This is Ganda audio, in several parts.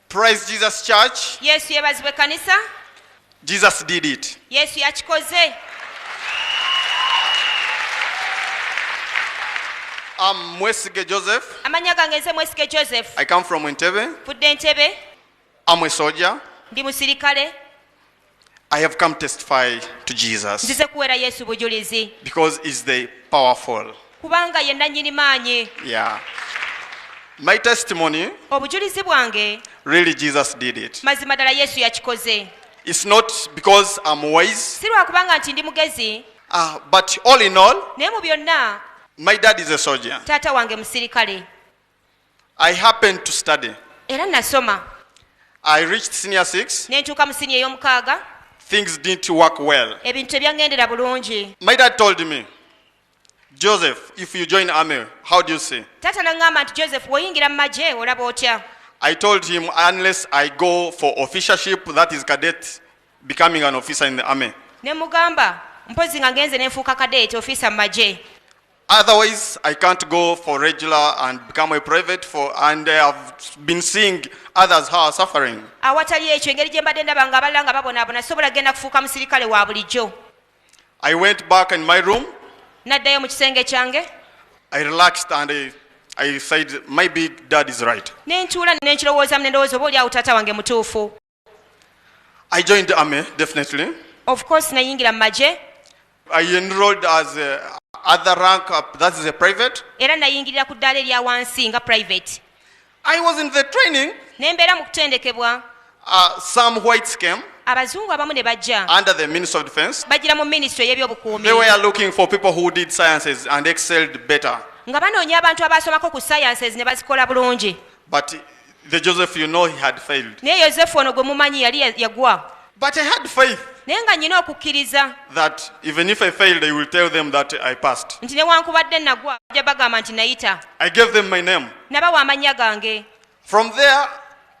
Praise Jesus Church. Yesu yebazibwe kanisa. Jesus did it. Yesu yakikoze. I'm Mwesige Joseph. Amanya gange nze Mwesige Joseph. I come from Entebbe. Fudde Entebbe. I'm a soldier. ndi musirikale I have come testify to Jesus nzize kuweera yesu bujulizi because he's the powerful. kubanga ye nannyini maanyi Yeah. My testimony, obujulizi bwange really Jesus did it. mazima ddala yesu yakikoze It's not because I'm wise, si lwakubanga nti ndi mugezi uh, but all in all, naye mu byonna my dad is a soldier. taata wange musirikale I happened to study. Era nasoma. I reached senior 6. Ne ntuuka mu senior ey'omukaaga. Things didn't work well. Ebintu tebyangendera bulungi. My dad told me, Joseph, if you join army, how do you see? Tata nangamba nti Joseph, woyingira mu magye olaba otya? I told him unless I go for officership, that is cadet, becoming an officer in the army. Ne mugamba, mpozi nga ngenze ne nfuuka cadet, officer mu magye. Otherwise, I can't go for regular and become a private for, and I have been seeing others who are suffering. awatali ekyo engeri gye mbadde ndaba nga abalala nga babonaabona sobola kugenda kufuuka musirikale wa bulijjo I went back in my room. naddayo mu kisenge kyange I relaxed and I, I said, my big dad is right. ne ntuula ne nkirowoozamu ne ndowooza oba oli awo taata wange mutuufu I joined the army, definitely. Of course, nayingira mu magye. I enrolled as a other rank, uh, that is a private. Era nayingirira ku ddaala erya wansi nga private. I was in the training. Ne mbeera mu kutendekebwa. Uh, some whites came. abazungu abamu ne bajja under the minister of defense bajira mu ministry ey'ebyobukuumi they were looking for people who did sciences and excelled better nga banoonya abantu abaasomako ku sciences ne bazikola bulungi But the Joseph you know he had failed. Naye Yosefu ono gwe mumanyi yali yagwa. But I had faith. Naye nga nnina okukkiriza. That even if I failed I will tell them that I passed. Nti newankubadde nagwa bajja bagamba nti nayita. I gave them my name. Nabawa amannya gange. From there.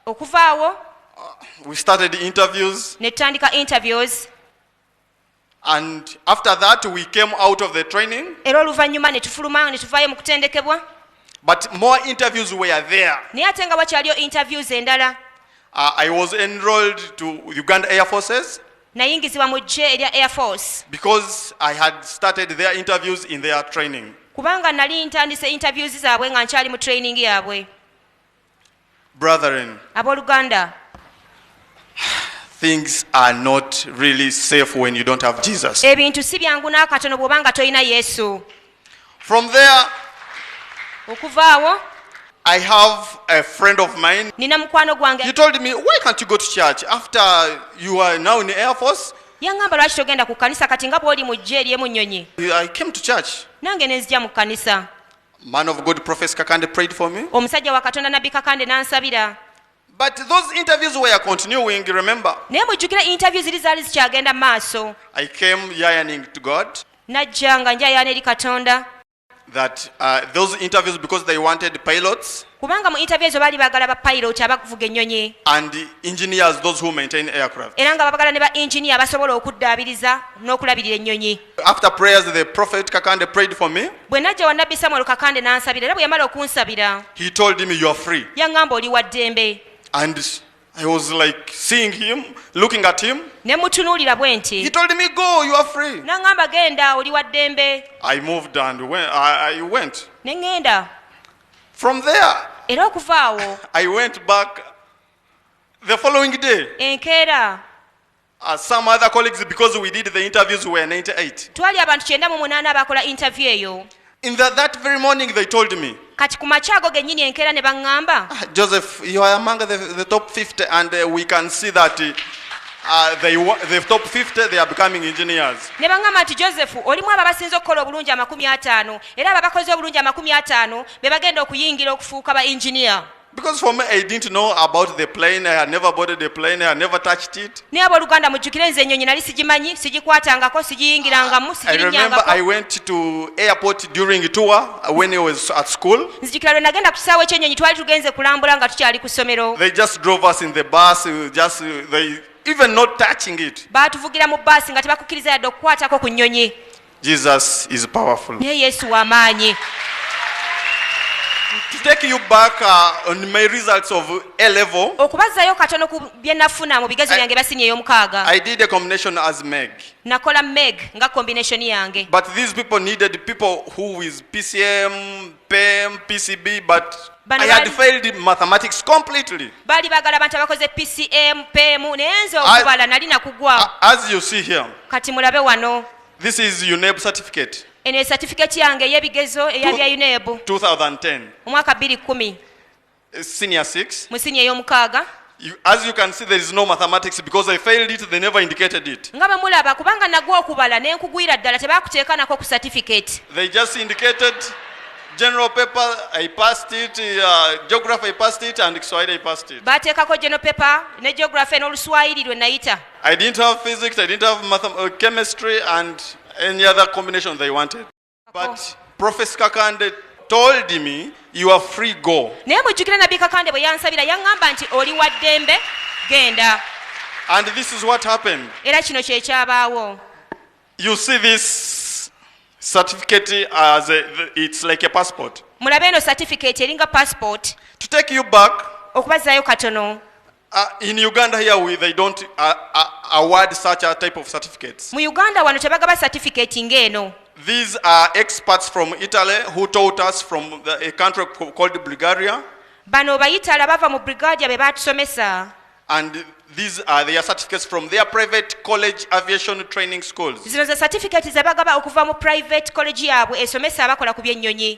Okuva awo. Uh, we started interviews. Ne tutandika interviews. And after that we came out of the training. Era oluvannyuma ne tufuluma ne tuvaayo mu kutendekebwa. But more interviews were there. Naye ate nga wakyaliyo interviews endala. Uh, I was enrolled to Uganda Air Forces. Nayingizibwa mu ggye erya Air Force. Because I had started their interviews in their training. Kubanga nali ntandise interviews zaabwe nga nkyali mu training yaabwe. Brethren, abooluganda things are not really safe when you don't have Jesus. ebintu si byangu n'akatono bw'oba nga tolina yesu From there, okuvaawo I have a friend of mine. nina mukwano gwange He told me, Why can't you go to church after you are now in the Air Force? yaŋŋamba lwaki togenda ku kkanisa kati nga bw'oli mu ggye ery'emu nnyonyi I came to church. nange ne nzija mu kkanisa Man of God Prophet Kakande prayed for me. Omusajja wa Katonda Nabbi Kakande n'ansabira. But those interviews were continuing, remember? Naye mujjukira interview ziri zaali zikyagenda mu maaso. I came yearning to God. Najja nga njayaana eri Katonda. That uh, those interviews because they wanted pilots. kubanga mu interview ezo baali baagala ba pilot abavuga ennyonyi and engineers those who maintain aircraft era nga babagala ne ba engineer abasobola okuddaabiriza n'okulabirira ennyonyi after prayers the prophet kakande prayed for me bwe najja wa nabbi samuel kakande n'ansabira era bwe yamala okunsabira he told me you are free yaŋŋamba oli wa ddembe and I was like seeing him, looking at him. He told me, Go, you are free. I moved and went, I, I went. From there, era okuva awo I went back the following day. enkeera Uh, some other colleagues, because we did the interviews, were 98. twali abantu kyenda mu munaana abaakola interview eyo In the, that very morning, they told me, kati ku makya ago gennyini enkeera ne baŋŋamba "Ah, Joseph, you are among the, the top 50, and uh, we can see that uh, uh, they, wa- the top 50, they are becoming engineers. ne baŋŋamba nti joseph olimu abo abasinze okukola obulungi amakumi ataano Era abo abakoze obulungi amakumi ataano be bagenda okuyingira okufuuka ba engineer. Because for me, I didn't know about the plane. I had never boarded a plane. I had never touched it. naye abooluganda mujjukire nze ennyonyi nali sigimanyi sigikwatangako sigiyingirangamu I remember I sigirinyangako went to airport during tour when I was at school. nzijukira lwe nagenda ku kisaawe ky'ennyonyi twali tugenze kulambula nga tukyali ku ssomero They just drove us in the bus. uh, Just uh, they even not touching it. baatuvugira mu baasi nga tebakukkiriza yadde okukwatako ku nnyonyi Jesus is powerful. Naye Yesu wa maanyi. To take you back uh, on my results of A level. Okubazzayo katono ku bye nafuna mu bigezo byange bya siniya ey'omukaaga. I did a combination as Meg. Nakola Meg nga combination yange. But these people needed people who is PCM, PM, PCB but Bano I had bali- failed mathematics completely. baali bagala abantu abakoze pcm pemu naye nze I- okubala nali nakugwawo A- As you see here, kati mulabe wano this is UNEB certificate eno ye satifiketi yange ey'ebigezo eya Two- bya unebu 2010, omwaka 210 uh, senior six. mu siniya ey'omukaaga You, as you can see, there is no mathematics because I failed it, they never indicated it. nga bwe mulaba kubanga nagwa okubala ne nkugwira ddala tebakuteekanako ku certificate They just indicated general paper, I passed it, uh, geography, I passed it, and Kiswahili, I passed it. baateekako geno pepa ne geography n'oluswayiri lwe nayita I didn't have physics, I didn't have mathem- uh, chemistry, and any other combination they wanted. But Prophet Kakande told me you are free go. Naye mujjukira Nabbi Kakande bwe yansabira yaŋŋamba nti oli wa ddembe genda. And this is what happened. Era kino kye kyabaawo. You see this certificate as a, it's like a passport. Mulabe eno certificate eringa passport. To take you back. Okubazaayo katono. Uh, in Uganda here we, they don't uh, uh, award such a type of certificates. Mu Uganda wano tebagaba certificate ng'eno. These are experts from Italy who taught us from the, a country called Bulgaria. Bano bayitala bava mu Bulgaria be batusomesa. And these are their certificates from their private college aviation training schools. Zino ze certificate ze bagaba okuva mu private college yaabwe esomesa abakola ku by'ennyonyi.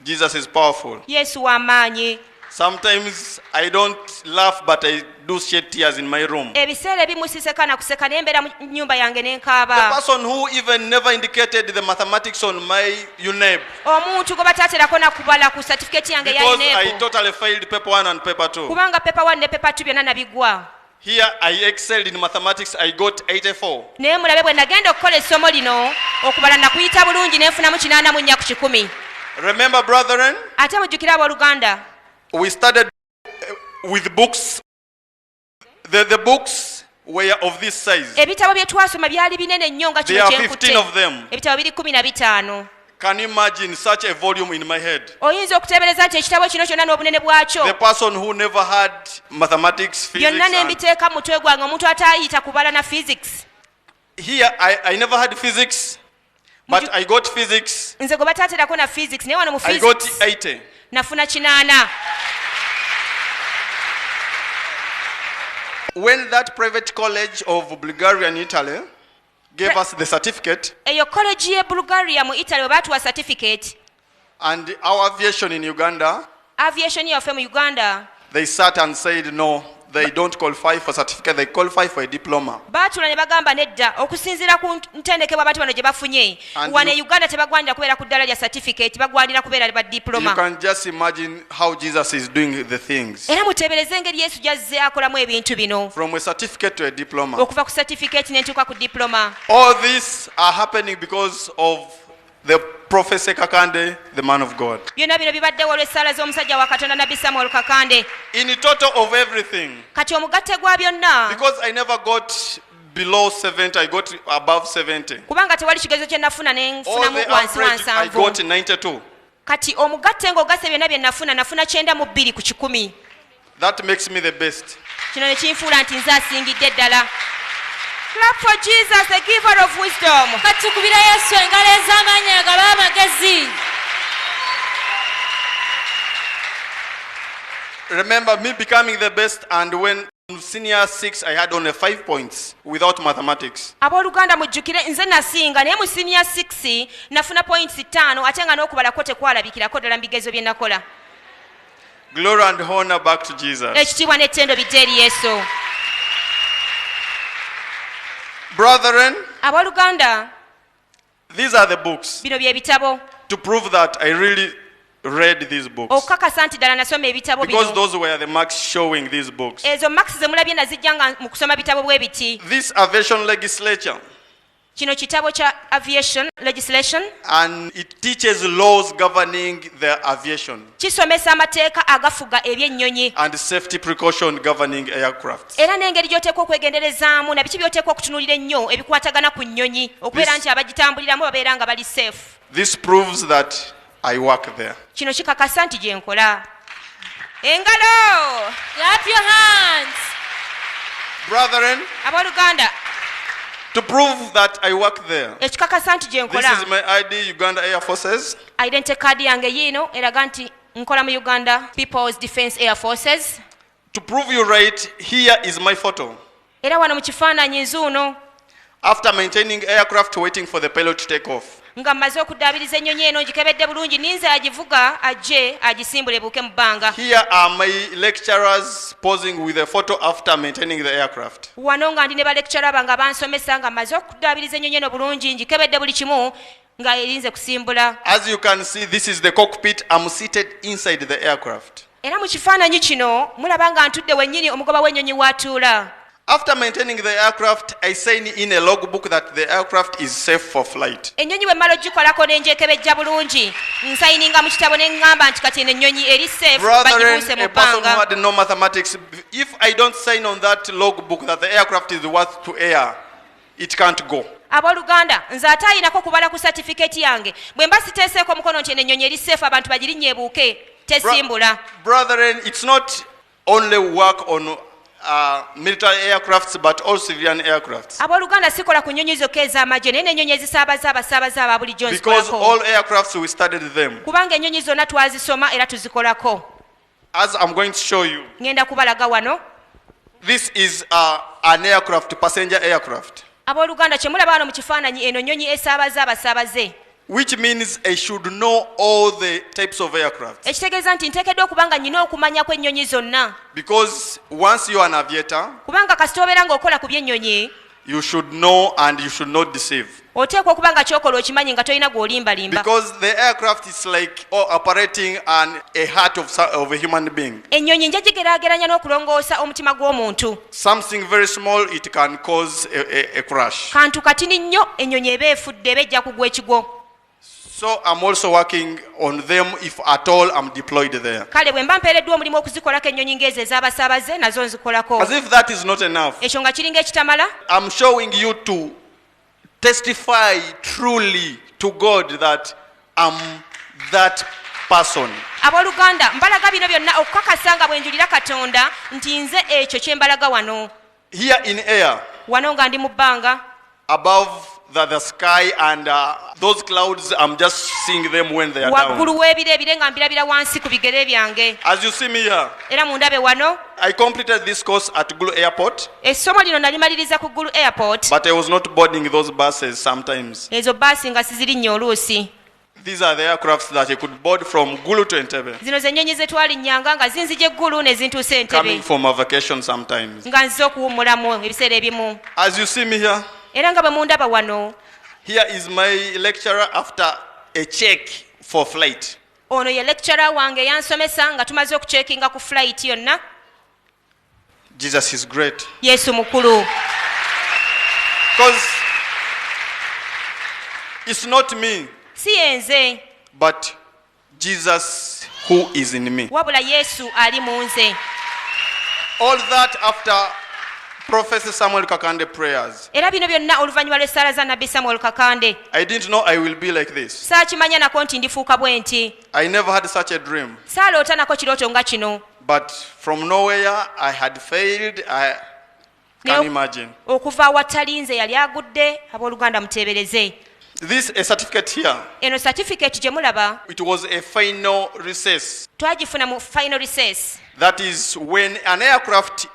Jesus is powerful. yesu w'amaanyi Sometimes I don't laugh, but I do shed tears in my room. ebiseera ebimu siseka na kuseka naye mbeera mu nnyumba yange ne The nkaaba person who even never indicated the mathematics on my UNEB omuntu gwe bataaterako na kubala ku satifiketi yange eya because I ineeko totally failed paper one and paper two. kubanga pepa 1 ne pepa 2 byonna nabigwa Here I excelled in mathematics, I got 84. Naye mulabe bwe nagenda okukola essomo lino okubala nakuyita bulungi ne nfunamu kinaana mu nnya ku kikumi. Remember brethren? Ate mujjukire abooluganda. We studied uh, with books. The, the books were of this size. Ebitabo bye twasoma byali binene nnyo nga kino kye nkutte. There are 15 of them. Ebitabo biri kumi na bitaano. Can you imagine such a volume in my head? oyinza okuteebereza nti ekitabo kino kyonna n'obunene bwakyo The person who never had mathematics, physics, byonna ne and mbiteeka mu mutwe gwange omuntu ataayita kubala na physics here I, I never had physics, but I got physics. nze gwe bataaterako na physics naye wano mu I got physics 80. nafuna kinaana When that private college of Bulgaria and Italy gave us the certificate eyo college ye bulgaria mu italy webatuwa certificate and our aviation in uganda aviation yaffe mu uganda they sat and said no they don't qualify for certificate they qualify for a diploma baatula ne bagamba nedda okusinziira ku ntendekebwa abantu bano gye bafunye Wano e Uganda tebagwanira kubeera ku ddala lya certificate, bagwanira kubeera ba diploma. Era muteebereze engeri Yesu gy'azze akolamu ebintu bino. Okuva ku certificate ne ntuuka ku diploma. All this are happening because of the prophecy kakande the man of god byonna bino bibaddewo olw'essaala z'omusajja wa katonda nabbi samuel kakande in total of everything kati omugatte gwa byonna because i never got below 70 i got above 70 kubanga tewali kigezo kye nafuna ne nfunamu wansi wa nsanvu kati omugatte ng'ogasse byonna bye nafuna nafuna kyenda mu bbiri ku kikumi that makes me the best kino ne kinfuula nti nze asingidde ddala clap for jesus the giver of wisdom kati tukubira yesu engalo ez'amaanyi agaba amagezi remember me becoming the best and when senior 6 i had only 5 points without mathematics aboluganda mujjukire nze nasinga naye mu senior 6 nafuna points 5 ate nga n'okubalako tekwalabikirako ddala mu bigezo bye nakola glory and honor back to jesus ekitiibwa n'ettendo bijja eri yesu brethren aboluganda These are the books. Bino bye bitabo. To prove that I really read these books. Okukakasa nti ddala nasoma ebitabo bino. Because those were the marks showing these books. Ezo marks ze mulabye nazijja nga mu kusoma bitabo bwe biti. This aviation legislature. Kino kitabo kya aviation legislation. And it teaches laws governing the aviation. Kisomesa amateeka agafuga ebyennyonyi. And safety precaution governing aircraft. era n'engeri gy'oteekwa okwegenderezaamu na biki by'oteekwa okutunuulira ennyo ebikwatagana ku nnyonyi okubeera nti abagitambuliramu babeera nga bali seefu kino kikakasa nti gye nkola engalo abooluganda To prove that I work there. This is my ID, Uganda Air Forces. Identity card yange yiino eraga nti nkola mu Uganda People's Defence Air Forces. To prove you right, here is my photo. Era wano mu kifaananyi nzuuno. After maintaining aircraft waiting for the pilot to take off. nga mmaze okuddaabiriza ennyonyi eno ngikebedde bulungi ninze agivuga ajje agisimbule ebuuke mu bbanga wano nga ndi ne balekitara bange bansomesa nga mmaze okuddaabiriza ennyonyi eno bulungi ngikebedde buli kimu nga erinze kusimbula As you can see, this is the cockpit. I'm seated inside the aircraft. era mu kifaananyi kino mulaba nga ntudde wennyini omugoba w'ennyonyi w'atuula After maintaining the aircraft, I sign in a logbook that the aircraft is safe for flight. ennyonyi bwe mmala ogikolako ne ngyekebejja bulungi nsayininga mu kitabo ne ŋŋamba nti kati eno ennyonyi eri safe Brethren, bagibuuse mu a person who bbanga had no mathematics, if I don't sign on that logbook that the aircraft is worth to air, it can't go aboluganda nze ate ayinako kubala ku satifiketi yange bwe mba siteeseeko omukono nti eno ennyonyi eri seefu abantu bagirinnya ebuuke tesimbula brethren it's not only work on Uh, military aircrafts but all civilian aircrafts aboluganda sikola ku nyonyi zokka ez'amagye naye n'enyonyi ezisaabaza abasaabaza aba bulijjo because all aircrafts we studied them kubanga enyonyi zonna twazisoma era tuzikolako As I'm going to show you. Ngenda kubalaga wano. This is uh, an aircraft, passenger aircraft. Aboluganda kyemulaba wano mu kifaananyi eno nnyonyi esaabaza abasaabaze. Which means I should know all the types of aircraft. Ekitegeeza nti nteekeddwa okuba nga nnina okumanya kw'ennyonyi zonna. Because once you are an aviator. Kubanga kasita obeera ng'okola ku by'ennyonyi. You should know and you should not deceive. oteekwa okuba nga kyokola okimanyi nga tolina gwolimbalimba like ennyonyi nja gigerageranya n'okulongoosa omutima gw'omuntu kantu katini nnyo ennyonyi eba efudde eba ejja kugwa ekigwo So I'm also working on them if at all I'm deployed there. kale bwe mba mpeereddwa omulimu okuzikolako ennyonyi ng'ezo ez'abasaabaze nazo nzikolako As if that is not enough, ekyo nga kiringa ekitamala I'm showing you to testify truly to God that I'm that person. abooluganda mbalaga bino byonna okukakasa nga bwe njulira katonda nti nze ekyo kye mbalaga wano Here in air. Wano nga ndi mu bbanga. Above the, the sky and uh, those clouds I'm just seeing them when they are down. Waggulu w'ebire ebire nga mbirabira wansi ku bigere byange. As you see me here. Era mundabe wano. I completed this course at Gulu Airport. Essomo lino nalimaliriza ku Gulu Airport. But I was not boarding those buses sometimes. Ezo bus nga sizirinnya oluusi. These are the aircrafts that he could board from Gulu to Entebbe. Zino ze nnyonyi ze twalinnyanga nga zinzija eggulu ne zintuusa e Entebbe. Coming from a vacation sometimes. Nga nze okuwummulamu ebiseera ebimu. As you see me here. Era nga bwe mundaba wano. Here is my lecturer after a check for flight. Ono ye lecturer wange yansomesa nga tumaze okucekinga ku flight yonna. Jesus is great. Yesu mukulu. Because it's not me. Si yenze. But Jesus who is in me. Wabula Yesu ali mu nze. All that after Prophet Samuel Kakande prayers. Era bino byonna oluvannyuma lw'essaala za Nabbi Samuel Kakande. I didn't know I will be like this. Saakimanya nako nti ndifuuka bwenti. I never had such a dream. Saaloota nako kirooto nga kino. But from nowhere I had failed. I can imagine. Okuva awatali nze yali agudde abooluganda muteebereze. This a certificate here. Eno certificate gye mulaba. It was a final recess. Twagifuna mu final recess. That is when an aircraft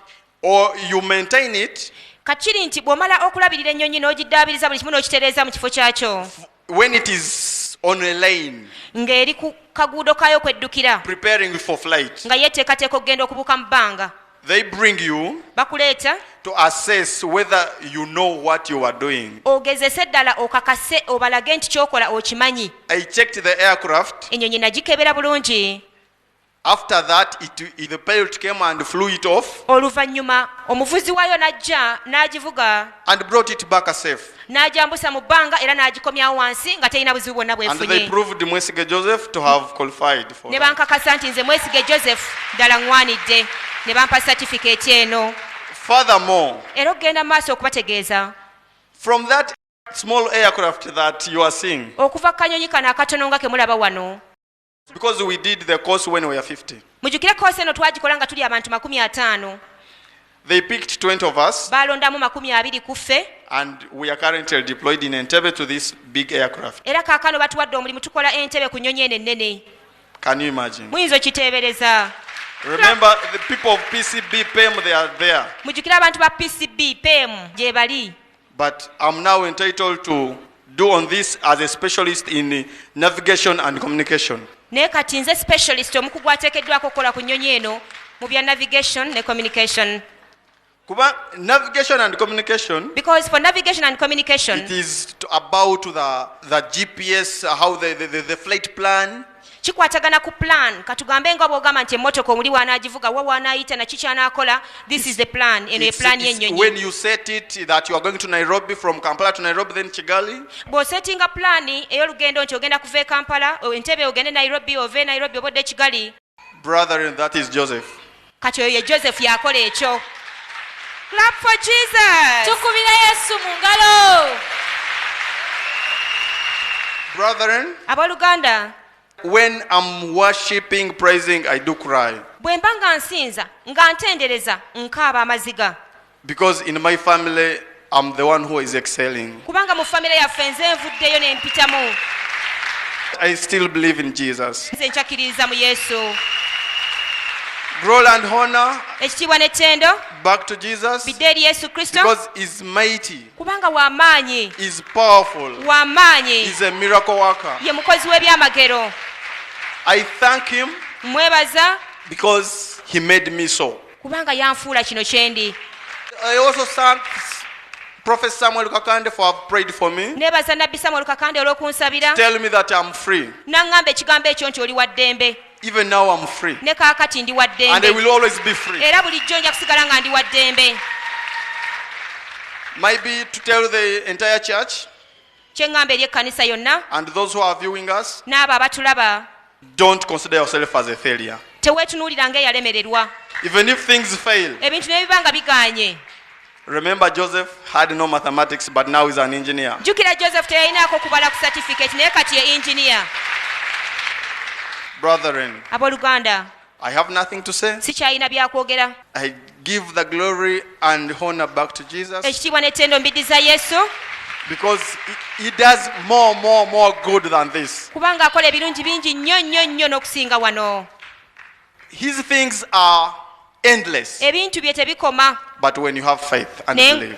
or you maintain it kakiri nti bw'omala okulabirira ennyonyi n'ogiddaabiriza buli kimu n'okitereeza mu kifo kyakyo when it is on a lane ng'eri ku kaguudo kaayo kweddukira preparing for flight nga yeeteekateeka okugenda okubuuka mu bbanga they bring you bakuleeta to assess whether you know what you are doing ogezese ddala okakase obalage nti kyokola okimanyi i checked the aircraft enyonyi nagikebera bulungi After that it, it, the pilot came and flew it off oluvannyuma omuvuzi waayo n'ajja n'agivuga and brought it back safe. n'agyambusa mu bbanga era n'agikomyawo wansi nga terina buzibu bwonna And they bwefunye proved Mwesige Joseph to have qualified for ne that. bankakasa nti nze mwesige joseph ddala ŋŋwanidde ne bampa satifikeeti eno Furthermore, era okugenda mu maaso okubategeeza from that small aircraft that you are seeing, okuva ku kanyonyi kano akatono nga ke mulaba wano Because we did the course when we were 50. mujukire koosi eno twagikola nga tuli abantu makumi ataano They picked 20 of us, baalondamu makumi abiri ku ffe and we are currently deployed in Entebbe to this big aircraft. era kaakano batuwadde omulimu tukola entebe ku nnyonyi eno ennene Can you imagine? muyinza okiteebereza Remember, the people of PCB PEM, they are there. mujukire abantu ba pcb pemu gye bali but I'm now entitled to do on this as a specialist in navigation and communication. Naye kati nze specialist omukugu ateekeddwako okukola ku nnyonyi eno mu bya navigation ne communication. Kuba navigation and communication. Because for navigation and communication. It is about the, the GPS, how the, the, the, the flight plan. Kikwatagana ku plan katugambe nga bwogamba nti emotoka omuli wanagivuga wa wanayita naki kyanakola this is the plan eno ye plan yenyonyi when you set it that you are going to Nairobi from Kampala to Nairobi then Kigali bo settinga plan eyolugendo nti ogenda kuva e Kampala entebe ogende Nairobi ove Nairobi obodde Kigali brother and that is Joseph kati oyo ye joseph yakola ekyo clap for jesus tukubira yesu mu ngalo brethren aboluganda when am worshiping praising i do cry bwe mba nga nsinza nga ntendereza nkaaba amaziga Because in my family I'm the one who is excelling. Kubanga mu family yaffe nze nvuddeyo ne mpitamu. I still believe in Jesus. Nze nkyakiririza mu Yesu. Glory and honor. Ekitiibwa n'ettendo. Back to Jesus. Bidde eri Yesu Kristo. Because he's mighty. Kubanga wa maanyi. He's powerful. Wa maanyi. He's a miracle worker. Ye mukozi w'ebyamagero. I thank him. Mwebaza. Because he made me so. kubanga yanfuula kino kyendi I also thank Prophet Samuel Kakande for have prayed for me. Nebaza Nabbi Samuel Kakande olw'okunsabira. Tell me that I'm free. Nangamba ekigambo ekyo nti oli wa ddembe. Even now I'm free. Ne kaakati ndi wa ddembe. And I will always be free. Era bulijjo nja kusigala nga ndi wa ddembe. Maybe to tell the entire church. Kye ŋŋamba eri ekkanisa yonna and those who are viewing us, n'abo abatulaba, don't consider yourself as a failure. teweetunuulira ng'eyalemererwa. Even if things fail, Ebintu ne bwe biba nga bigaanye. remember Joseph had no mathematics, but now he's an engineer. Jjukira Joseph teyalinaako kubala ku satifikeeti naye kati ye yinginiya. Brethren, Abooluganda, I have nothing to say. sikyalina byakwogera I give the glory and honor back to Jesus ekitiibwa n'ettendo mbiddiza yesu because he, he does more, more, more good than this. kubanga akola ebirungi bingi nnyo nnyo nnyo n'okusinga wano His things are endless, ebintu bye tebikoma but when you have faith and naye believe,